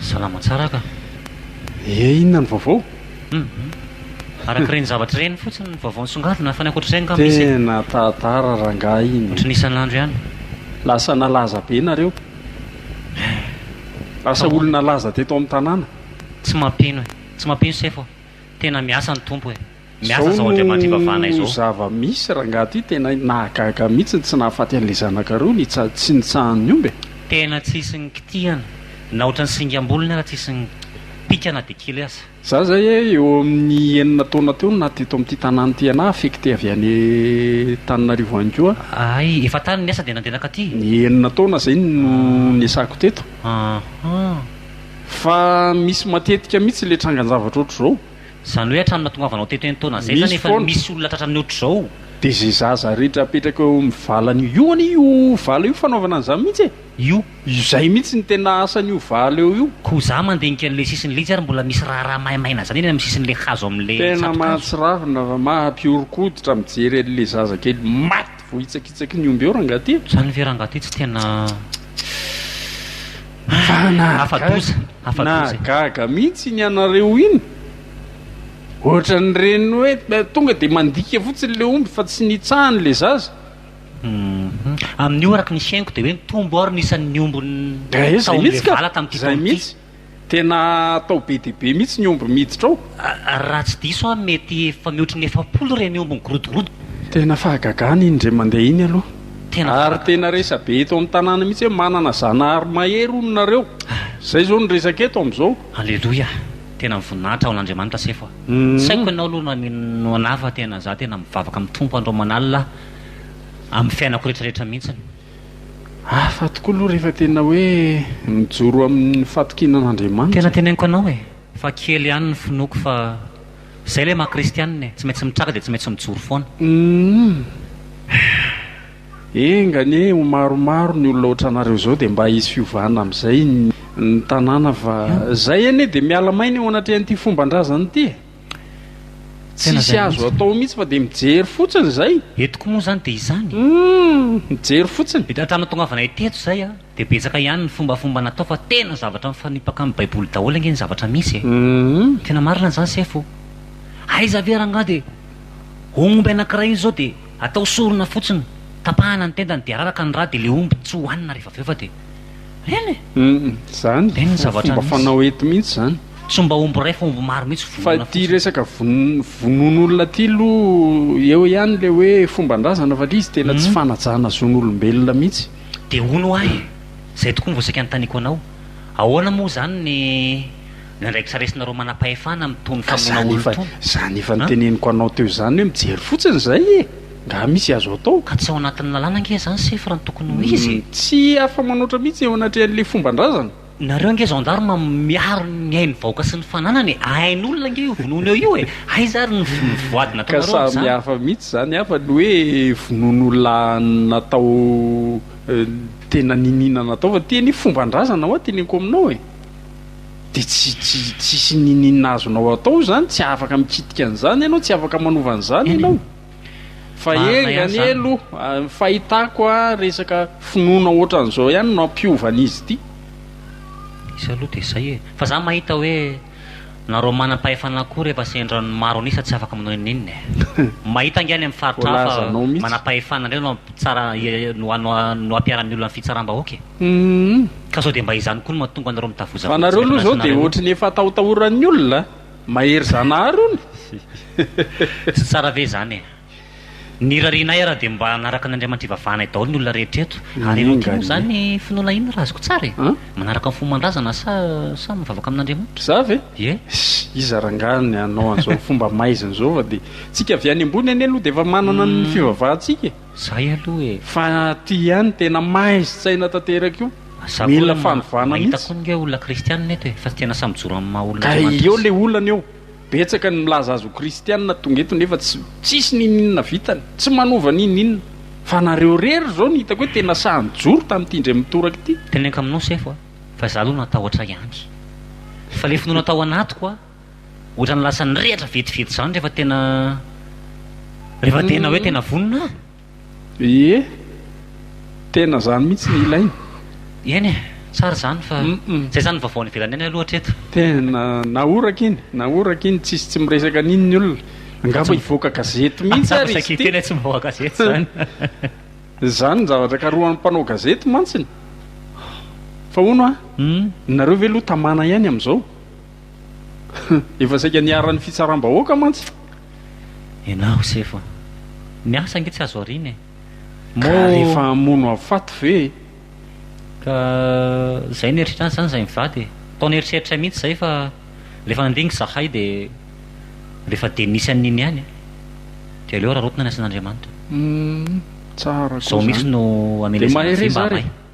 Salama tsara ka. Ee inona ny vaovao? Hum araka ireny zavatra ireny fotsiny ny vaovao nisongadina fa ny ankoatr'izay angamba misy e. Tena tantara rangahy iny. Ohatry ny isan'andro ihany. Lasa nalaza be nareo. Lasa olona laza teto amin'ny tanàna. Tsy mampino e. Tsy mampino sefo. Tena miasa ny Tompo e. Miasa zao Andriamanitra ivavahana izao. Zao no zava misy rangaha ty tena nahagaga mitsy ny tsy nahafaty anle zanaka roa ny tsy nitsahany omby e. Tena tsisy ny kitihana na otrany singam bolony ara tsisy ny pika na de kely aza. Za zay e eo amin'ny enina taona teo no naty eto amin'ity tanàna ity anah affecté avy any Tananarivo any koa. Ahay efa tany ny asa dia nandeha nankaty. Ny enina taona zay no niasako teto. Ahh. Fa misy matetika mitsy le trangan-javatra ohatr'izao. Zany hoe hatramin'ny nahatongavanao teto enina taona zay zany efa misy olona tratra amin'ny otrzao? Dia ze zaza rehetra apetraka eo amin'ny valany io, io anie io vala io fanaovana an'izany mihitsy e! Io. Izay mihitsy no tena asan'io vala eo io. Koa za mandinika an'le sisin'ny linjy ary mbola misy raharaha maimaina izany eny amin'ny sisin'le hazo amin'le tsatokazo. Tena mahatsiravina fa maha mpihoron-koditra mijery an'le zazakely maty. Voahitsakitsaky ny omby eo rangaty. Zany ve rangaty tsy tena afa doza afa doza e. Nahagaga mihitsy iny anareo iny. Ohatran'ireny hoe tonga dia mandika fotsiny ilay omby fa tsy nitsahany ilay zaza. Amin'io araka ny fihainoko dia hoe mitombo ary ny isan'ny omby tao amin'ilay vala tamin'ity taona ity. Tena atao be dia be mihitsy ny omby miditra ao. Raha tsy diso aho mety efa mihoatra ny efapolo ireny omby migorodogorodo. Tena fahagagana iny indray mandeha iny aloha. Ary tena resa-be eto amin'ny tanàna mihitsy hoe manana zanahary mahery hono nareo. Izay izao no resaka eto amin'izao. Aleloia, tena mivoninahitra ho an'Andriamanitra sefo aho. Tsy haiko ianao aloha raha mino anah fa tena za tena mivavaka amin'ny Tompo andro aman'alina amin'ny fiainako rehetra rehetra mihitsy. Hafa tokoa aloha rehefa tena hoe mijoro amin'ny fatokiana an'Andriamanitra. Tena teneniko anao e, fa kely ihany ny finoako fa zay ilay maha kristianina e, tsy maintsy mitraka dia tsy maintsy mijoro foana. Humm. Enga anie ho maromaro ny olona otranareo zao dia mba hisy fiovana amizay ny tanàna fa zay anie dia miala maina eo anatrehan'ity fomban-drazana ity e. Tsisy azo atao mihitsy fa dia mijery fotsiny izay. Eto koa moa izany dia izany e. Humm! Mijery fotsiny. Eto an-tanatongavanay teto izay a, dia betsaka ihany ny fombafomba natao fa tena zavatra mifanipaka amin'ny baiboly daholo ange ny zavatra misy e. Humm. Tena marina izany sefo o. Aiza ve rangaha dia ho omby anankiray iny izao dia atao sorona fotsiny, tapahana ny tendany dia araraka ny rà dia ilay omby tsy ho hanina rehefa avy eo fa dia Eny e! Izany, fomba fanao eto mihitsy izany. Tsy mba omby iray fa omby maro mihitsy vonona fotsiny. Fa ity resaka vonoan'olona ity aloha eo ihany ilay hoe fomban-drazana fa ilay izy tena tsy fanajana zon'olombelona mihitsy. Dia hono hoa e! Izay tokoa no vao saika anontaniako anao. Ahoana moa izany ny. Ny andraikitra raisinareo manam-pahefana amin'ny tohin'ny famonoana olon-tsoa. Ka izany efa niteneniko anao teo izany hoe mijery fotsiny izay e! Nga misy azo atao? Ka tsy ao anatin'ny lalàna ange izany sefo raha ny tokony ho izy e! Tsy afa-manoatra mihitsy eo anatrehan'ilay fomban-drazana. Nareo ange gendarme miaro ny ain'ny vahoaka sy ny fananany e! Ain'olona ange io vonoina eo io e! Aiza ary ny voady nataonareo amin'izany? Ka samy hafa mihitsy izany hafa ny hoe vonoina olona natao tena niniana natao fa ty anie fomban-drazana hoa teneniko aminao e! dia tsy tsy tsisy nininona azonao atao izany tsy afaka mikitika an'izany ianao tsy afaka manova an'izany ianao fa enga anie aloha ny fahitako a resaka finoana ohatran'izao ihany no hampiova an'izy ity izy aloha dia izay e fa za mahita hoe nareo manam-pahefana koa rehefa sendra ny maro an'isa tsy afaka manao ininona e mahita ange any amin'ny faritra hafa manam-pahefana indray no tsara no hampiara-miola ny fitsaram-bahoaka e. Ka sao dia mba izany koa no mahatonga anareo mitavozavoza Fa nareo aloha zao dia ohatry ny efa atahotahoran'ny olona a! Mahery Zanahary hono e! Tsy tsara ve izany e! Ny irarianay ara dia mba hanaraka an'Andriamanitra ivavahanay daholo ny olona rehetra eto. Ary ianao ty moa zany ny finoanao inona raha azoko tsara e? Manaraka ny fomban-drazana sa sa mivavaka amin'Andriamanitra? Za ve? Ie. Ssy! Iza rangahy ny hanao an'izao fomba maizina izao fa dia tsika avy any ambony anie aloha dia efa manana ny fivavahantsika e! Zay aloha e! Fa ty ihany tena maizy tsaina tanteraka io. Za koa mila fanovana mihitsy. Mahita koa ange olona kristianina eto e, fa tsy tena samy mijoro amin'ny maha olona Andriamanitra azy. Ka eo le olana eo, betsaka ny milaza azy ho kristianina tonga eto nefa tsy tsisy n'ininona vitany, tsy manova n'ininona. Fa nareo rery zao no hitako hoe tena sahy nijoro tamin'ity ndray mitoraka ity. Teneniko aminao sefo a, fa za aloha natahotra ihany. Fa le finoana tao anatiko a, Ohatran'ny lasa nirehatra vetivety izany rehefa tena rehefa tena hoe tena vonona an! Ie, tena izany mihitsy no ilaina. Eny e, tsara izany fa izay izany ny vaovao any ivelany any aloha hatreto. Tena nahoraka iny, nahoraka iny, tsisy tsy miresaka an'iny ny olona. Angamba hivoaka gazety mihitsy ary izy ity. Tena tsy mivoaka gazety izany. Izany ny zavatra ikarohan'ny mpanao gazety mantsy. Fa hono an, nareo ve aloha tamana ihany amin'izao? Efa saika niharan'ny fitsaram-bahoaka mantsy. Ianao sefo a! Ny asa ange tsy azo ariana e! Ka rehefa hamono afaty ve e! Ka izay nieritreritra azy izany izay mivady e! Tao nieritreritra mihitsy izay fa rehefa nandingana izahay dia rehefa dia nisy an'iny ihany e! Dia aleo rarotina ny asan'Andriamanitra. Humm tsara koa izany. Izao mihitsy no hamelezana vy mba hamay.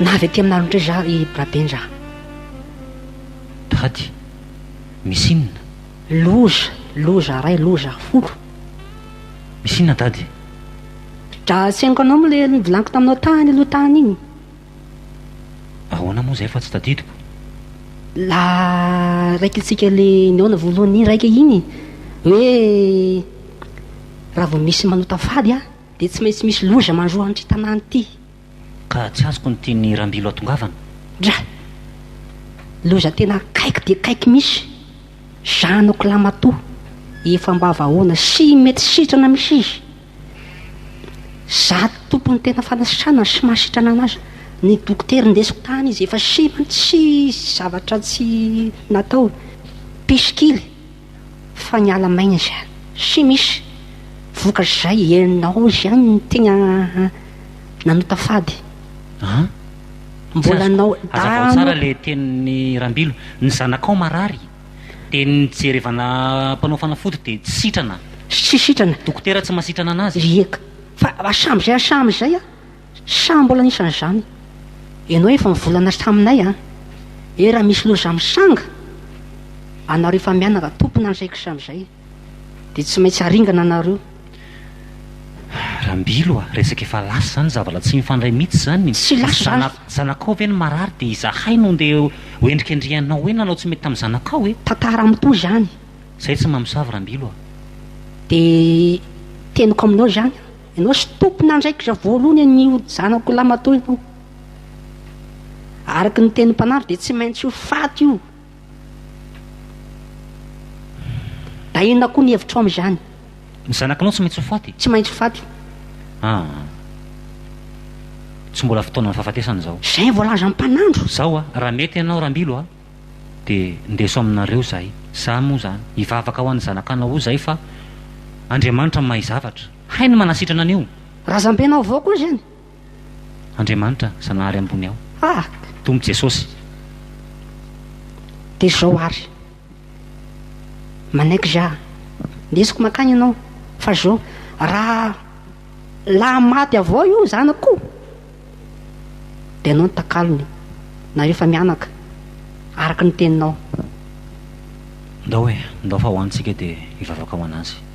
Na avy aty aminareo ndray za ry Brabendraha. Dady, misy inona? Loza, loza ray, loza folo. Misy inona dady? Dra asenoko anao moa le vilaniko taminao tany aloha tany iny. Ahoana moa izay fa tsy tadidiko? La raikintsika le nihaona voalohany iny raika iny hoe raha vao misy manota fady a dia tsy maintsy misy loza mandroa an'ity tanàna ity. Ka tsy azoko ny tian'i Rambilo atongavana. Dra. Loza tena akaiky dia akaiky misy. Zanako lahy matoa efa ambava aona sy mety sitrana misy izy. Zato tompony tena fanasitranana sy mahasitrana an'azy. Ny dokotera indesiko tany izy efa simba tsy zavatra tsy natao. Pisikily fa niala maina izy any. Tsy misy vokatra izay ianao ihany no tena nanota fady. An! Mbola nao, Hazavao tsara le tenin'i Rambilo. Ny zanakao marary? Dia ny nijerevana mpanao fanafody dia tsy sitrana. Tsy sitrana. Dokotera tsy mahasitrana anazy. Ry eka. Fa hasambo izay hasambo izay an. Saha mbola nisy an'izany. Ianao efa mivolana taminay an. Hoe raha misy loza misanga, anareo efa mianaka tompona an'izay kisambo izay. dia tsy maintsy aringana nareo. Rambilo a! resaka efa lasa izany zavala tsy mifandray mitsy izany, Tsy lasa izany. Zanakao ve no marary dia izahay no ndeha ho endrikendrihanao hoe nanao tsy mety tamin'ny zanakao e! Tantara mitohy izany. Izay tsy mamosavy Rambilo a! Dia teniko aminao izany, ianao sy tompon'andraikitra voalohany anio zanako lahy matoa ianao. Araka ny tenin'ny mpanandro dia tsy maintsy ho faty io. Da inona koa ny hevitrao amin'izany? Ny zanakinao tsy maintsy ho faty? Tsy maintsy faty. Ah. Tsy mbola fotoanan'ny fahafatesana izao. Izay voalazan'ny mpanandro. Zao a, raha mety ianao Rambilo a, dia ndeso aminareo izahay. Za moa izany, hivavaka ho an'ny zanakanao roa izahay fa Andriamanitra mahay zavatra. Hainy ny manasitrana an'io. Razambenao avao koa izany. Andriamanitra Zanahary ambony ao. Ah! Tompo Jesosy. Dia zao ary. Manaiky za. Ndesiko mankany ianao. Fa zao. Raha laha maty avao io zanako ko. Dia ianao no takalony. Nareo fa mianaka. Araka ny teninao. Ndao e. Ndao fa ho any tsika dia hivavaka ho anazy.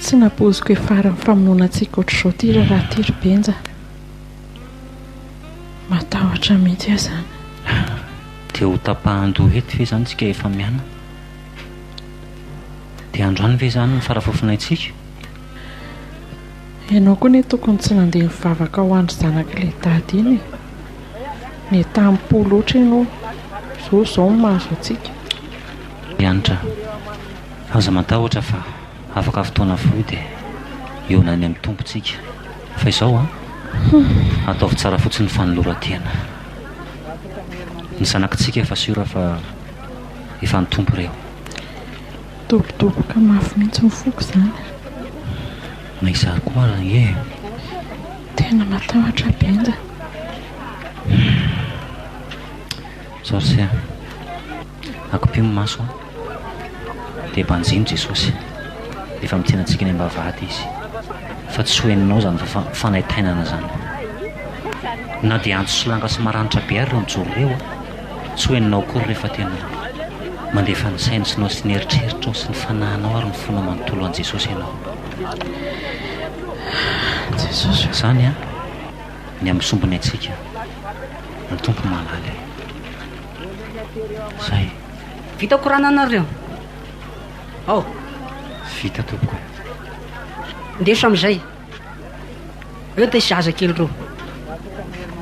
Tsy nampoiziko hiafara amin'ny famonoana antsika ohatr'izao ity raharaha ity ry Benja. Matahotra mihitsy aho izany. Dia ho tapahan-doha eto ve izany isika rehefa mianaka? Dia androany ve izany no fara faofonay antsika? Ianao koa ne tokony tsy nandeha nivavaka ho andry zanaky le dada iny e! Netam po loatra ianao, zao zao no mahazo antsika. Andrianitra, aza matahotra fa afaka fotoana fohy dia hiona any amin'ny Tompo tsika, fa izao an! ataovy tsara fotsiny ny fanoloran-tena. Ny zanakitsika efa siora fa efa ny Tompo ireo. Midobodoboka mafy mihitsy ny foko izany. Na izaho koa ary ange e! Tena matahotra Benja. Humm. Sorcière. Akopio ny maso dia banjino Jesosy. Efa mitsena antsika eny ambavahady Izy. Fa tsy ho henonao izany fa fanaintainana izany. Na dia antso sy langa sy maranitra be ary ireo mijoro ireo a! Tsy ho henonao akory rehefa tena mandefa ny sainy sy nao sy ny eritreritrao sy ny fanahinao ary ny fonao manontolo an'i Jesosy ianao. An! Jesosy o! Izany an! Ny amin'ny sombiny antsika no Tompo mahalala e! Izay! Vita korana nareo? Ao! Vita tompoko e! Ndeso amin'izay! Eo dia zazakely roa.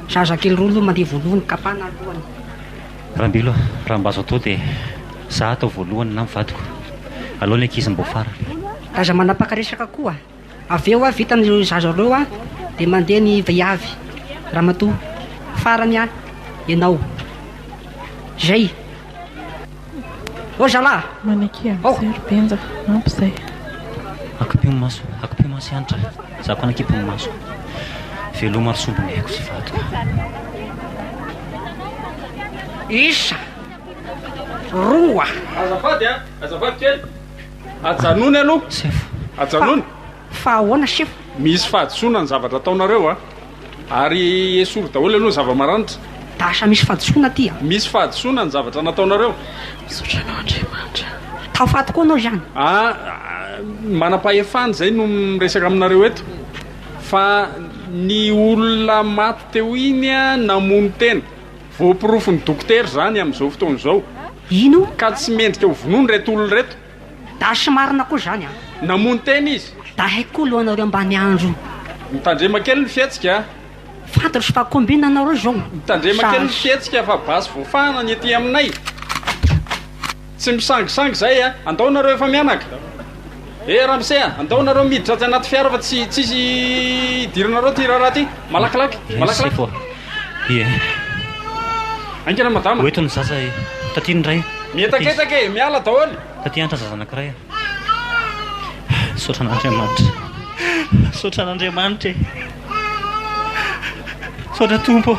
Zazakely roa aloha mandeha voalohany, kapana ny lohany. Rambilo, raha mba azo atao dia za atao voalohany na ny vadiko. Alao ny ankizy mbo farany. Aza manapaka resaka koa. Avy eo vita ny zaza roa dia mandeha ny viavy, ramatoa. Farany ianao. Izay. Ozala! Maneke aho zero benja, ampy zay. Akipio ny maso, akipio maso Hanitra a! Za koa nakipy ny masoko. Veloma ry sombiny aiko sy vadiko a! Isa, roa. Azafady a! Azafady kely! Ajanony aloha! Sefo! Ajanony! Fa ahoana chef? Misy fahadisoana ny zavatra ataonareo a! Ary esory daholo aloha ny zava-maranitra. Dasa misy fahadisoana aty a! Misy fahadisoana ny zavatra nataonareo. Misaotra anao Andriamanitra. Tafaty koa anao izany. A! Manam-pahefana izay no miresaka aminareo eto. Fa ny olona maty teo iny a, namono tena. Voaporofon'ny dokotera izany amin'izao fotoana izao. Ino? Ka tsy mendrika ho vonoina ireto olona ireto. Dash marina koa zany an. Namono tena izy. Dahay koa aloha anareo mba miandry. Mitandrema kely ny fihetsika a. Fantatro fa combine anareo zao. Mitandrema kely ny fihetsika fa basy voafahana ny ety aminay. Tsy misangisangy zay a. Andao nareo efa mianaka. Eh ramose a, andao nareo miditra aty anaty fiara fa tsy tsisy hidiranareo ty raharaha ty. Malakilaky, malakilaky. Merci po. Ie. Aingana ny madama. Ho eto ny zaza e. Taty ny ray. Mietaketaka e, miala daholo. Taty hanitra ny zaza anankiray a. Misaotra an'Andriamanitra. Misaotra an'Andriamanitra e. Misaotra Tompo.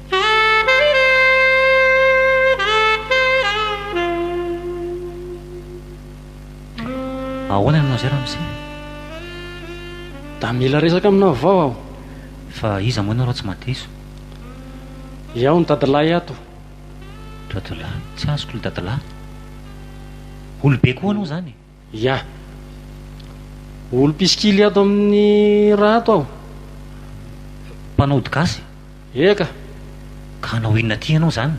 Ahoana ianao izay ramose? Da mila resaka aminao avao aho. Fa iza moa ianao raha tsy mahadiso? Iao no dadilahy ato. Dadilahy? Tsy azoko ilay dadilahy. Olobe koa ianao izany e! Ya. Olo mpisikily ato amin'ny ra ato aho. Mpanao ody gasy? Eka. Ka hanao inona aty ianao izany?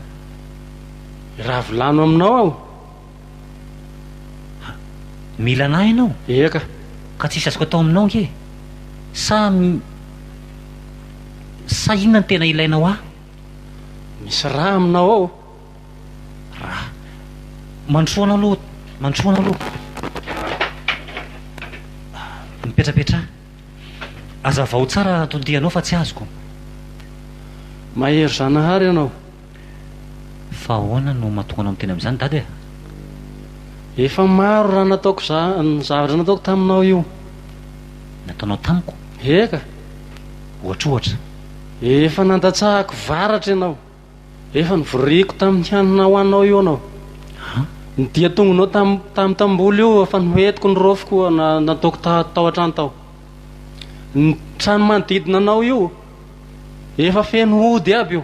Raha volano aminao aho. Ha. Mila anah ianao? Eka. Ka tsisy azoko atao aminao ange. Sa. Sa inona no tena ilainao ahy? Misy ra aminao ao. Ra. Mandrosoana aloha, mandrosoana aloha. Mipetrapetraha. Azavao tsara tondianao fa tsy azoko. Mahery Zanahary ianao. Fa ahoana no mahatonga anao miteny amin'izany Dada e? Efa maro raha nataoko za, ny zavatra nataoko taminao io. Nataonao tamiko? Eka. Ohatrohatra. Efa nandatsahako varatra ianao. Efa novoriko tamin'ny hanina ho anao io anao. Ny dian-tongonao tamin'ny tamboly io efa noentiko ny rofiko nataoko tao an-trano tao. Ny trano manodidina anao io efa feno hody aby io.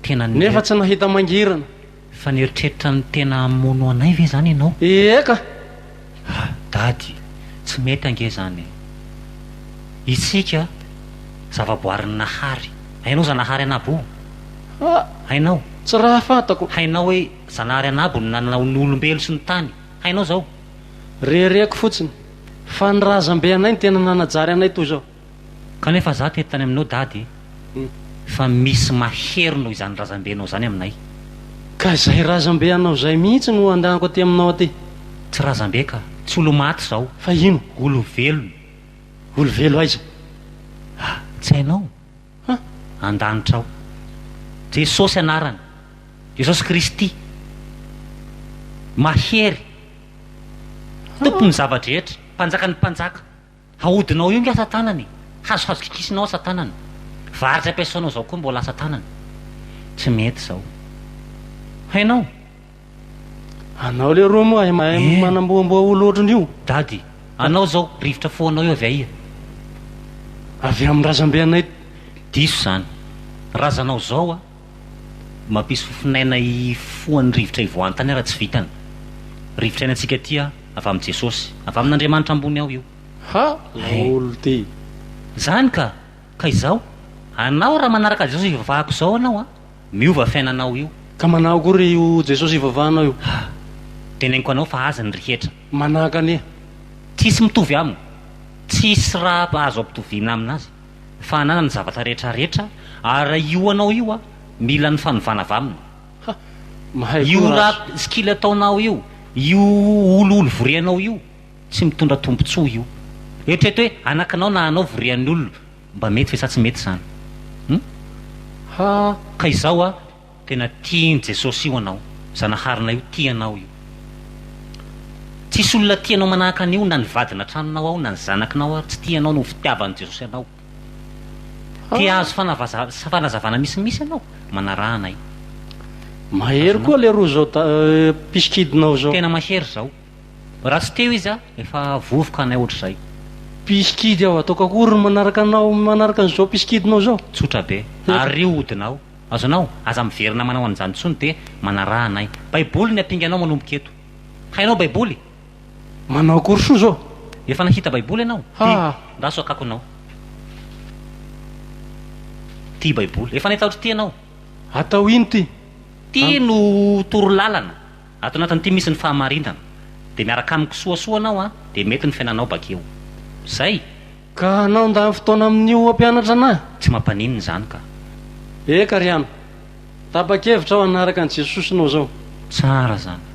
Tena nefa tsy nahita mangirana. Fa nieritreritra ny tena hamono anay ve izany ianao? Ie ka! Ah dady, tsy mety ange zany e! Isika zavaboarin'ny Nahary, hainao Zanahary an'Abo o? Ah, hainao? Tsy raha fantako. Hainao hoe Zanahary an'Abo no nanao ny olombelo sy ny tany, hainao zao? Rereko fotsiny, fa ny razambe anay no tena nanajary anay toy zao. Kanefa za teto tany aminao dady fa misy mahery noho izany razambenao zany aminay. Ka izay razambe anao izay mihitsy no andanko aty aminao aty. Tsy razambe ka, tsy olo-maty izao. Fa ino? Olo-velona. Olo-velo aiza? A! tsy hainao? A! an-danitra ao. Jesosy anarany, Jesosy Kristy. Mahery. Tompon'ny zava-drehetra, Mpanjakan'ny mpanjaka. Haodinao io nge asa tanana e! Hazohazo kikisinao asa tanana. Varitsy ampiasainao zao koa mbola asa tanana. Tsy mety zao. Hainao? Anao leroa moa hay mahay manamboamboa olo otriny io. Dady, anao zao rivotra fo anao io avy aia? Avy aminy razambe anay. Diso zany. Razanao zao a. Mampisy fofon'aina hifoha ny rivotra hivoahan-tany ary tsy vitany. Rivotra iainantsika aty a, avy amin'i Jesosy. Avy amin'Andriamanitra ambony ao io. Ha! Laolo ty! Zany ka! Ka izao, anao raha manaraka Jesosy ivavahako izao anao a, miova fiainanao io. Ka manahy koa re io Jesosy ivavahanao io. Ha! Teneniko anao fa azy ny rehetra. Manahaka anie. Tsisy mitovy aminy. Tsisy raha azo ampitoviana amin'azy. fa hanana ny zavatra rehetra rehetra ary io anao io a mila ny fanovana avy aminy Ha! Mahay koa io rap Rach. skill ataonao io io olioly vorianao io tsy mitondra tombotsoa io eritrereto hoe anakinao na anao vorian'ny olona mba mety ve sa tsy mety zany hum? Ha! Ka izao a. Tena tian'i Jesosy io anao, Zanaharinay io tia anao io. Tsisy olona tia anao manahaka an'io na ny vadina an-tranonao ao na ny zanaknao ary tsy tia anao noho ny fitiavan'i Jesosy anao. Te hahazo fanavaza- fanazavana misimisy ianao? Manaraha anay. Mahery Azonao. koa leroa zao da pisikidinao zao. Tena mahery zao. Raha tsy teo izy a, efa vovoka anay ohatr'izay. Pisikidy aho ataoko akory ny manaraka anao manaraka an'izao pisikidinao zao? Tsotra be. Ary rio hodinao. Azonao? Aza miverina manao an'izany intsony dia manaraha anay. Baiboly ny apinganao manomboka eto. Hainao Baiboly? Manao akory soa izao? Efa nahita Baiboly ianao? Ty, andraso akakonao. Ty Baiboly. Efa nahita ohatr'ity ianao? Atao ino ity? Ty no toro lalana. Ato anatin'ity misy ny fahamarinana. Dia miaraka amiko soasoa anao an, dia mety ny fiainanao bakeo. Izay. Ka anao ndany fotoana amin'io hampianatra anah? Tsy mampaninona izany ka. Eka ry an! Tapa-kevitra aho hanaraka an'i Jesosy noho izao. Tsara izany.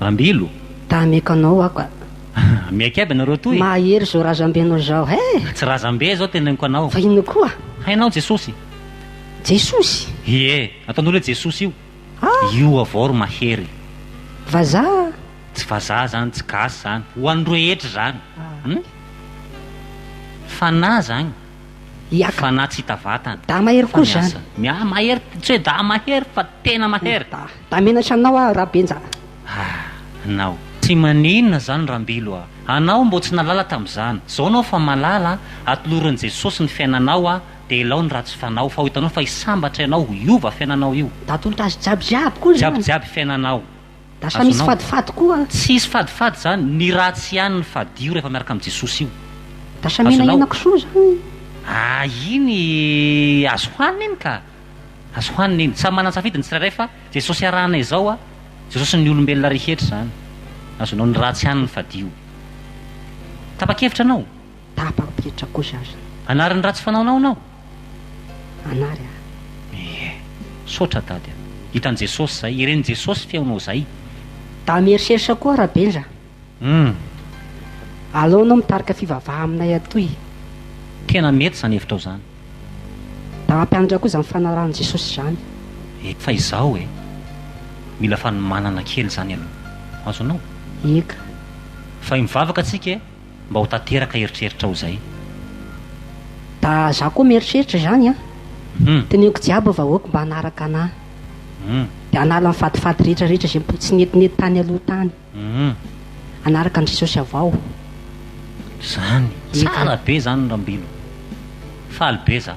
Ambilo. Ta hameko anao aho ka. Miaiky aby nareo toy. Mahahery zao razambe nao zao he. Tsy razambe zao teneniko anao. Fa inona koa? Hainao Jesosy? Jesosy? Ie, ataon'olo hoe Jesosy io. Ah! Io avao ro mahery. Vazaha? Tsy vazaha zany, tsy gasy zany. Ho an'ny rehetra zany. Hum? Fanahy zany. Iaka. Fa na tsy hita vatana. Da mahery koa zany. Fa ny asany. Mahery, tsy hoe da mahery fa tena mahery. Da, da menatra anao aho Rabenja a. Ah, anao. Tsy maninona zany Rambilo a. Anao mbô tsy nalala tam'zany. Zao anao fa malala a, atolorin'i Jesosy ny fiainanao a, de elao ny ratsy fanao fa ho hitanao fa hisambatra ianao, hiova fiainanao io. Da atolotra azy jiaby jiaby koa zany. Jiaby jiaby fiainanao. Lasa misy fadifady koa. Tsy hisy fadifady izany, ny ratsy ihany no fadio rehefa miaraka amin'i Jesosy io. Lasa menahena kisoa izany. Ah iny azo hohanina iny ka! Azo hohanina iny. Samy manan-tsafidy ny tsirairay fa Jesosy arahana izao a, Jesosy ny olombelona rehetra izany. Azonao ny ratsy ihany ny fadio. Tapa-kevitra ianao? Tapam-petra koa za zany. Hanary ny ratsy fanaonao ianao? Hanary aho. Ie. Sotra Dady a. Hitan'i Jesosy izay. Hiren'i Jesosy feonao izay. Da mierishersa koa Rabenja a. Hum. Aleo anao mitarika fivavaha aminay atoy e. Tena mety izany hevitrao izany. Da hampianatra koa izany fanarahan'i Jesosy izany. Eka. Fa izao e. Mila fanomanana kely izany aloha. Azonao? Eka. Fa mivavaka tsika e. mba ho tanteraka eritreritrao izay. Ba za koa mieritreritra izany an! Teneniko jiaby vahoaka mba hanaraka anà. Dia hanala ny fadifady rehetra rehetra izay mbola tsy netinety tany aloha tany. Hanaraka an'i Jesosy avao. Zany, tsara be zany Rambilo. Faly be za.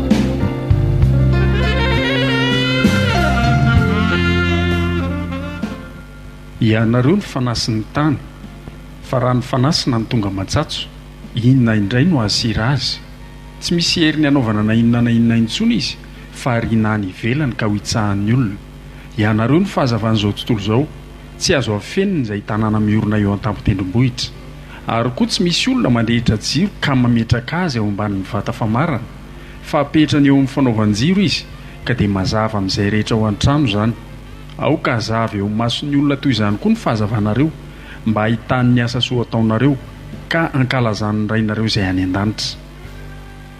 Ianareo no fanasy ny tany fa raha ny fanasina no tonga matsatso, inona indray no hahasira azy? Tsy misy heriny hanaovana na inona na inona intsony izy fa ariana any ivelany ka ho itsahan'ny olona. Ianareo no fahazavan'izao tontolo izao, tsy azo afenina izay tanàna miorina eo an-tampon-tendrombohitra. Ary koa tsy misy olona mandrehitra jiro ka mametraka azy ao ambanin'ny vata famarana, fa apetrany eo amin'ny fanaovan-jiro izy, ka dia mazava amin'izay rehetra ao an-trano izany. Aoka hazava eo amin'ny mason'ny olona toy izany koa ny fahazavanareo, mba hahitany ny asa soa ataonareo, ka hankalazany ny Rainareo izay any an-danitra.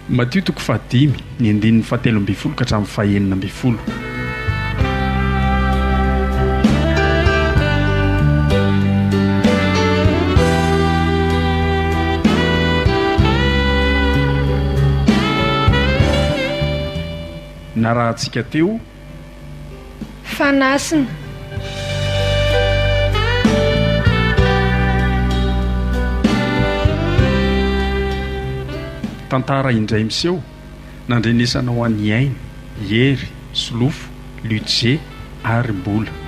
Matio toko fahadimy, ny andininy fahatelo ambin'ny folo ka hatramin'ny fahenina ambin'ny folo. Narahantsika teo. Fanasina. Tantara indray miseho nandrenesanao an'i Aina, Hery, Solofo, Luce ary Mbola.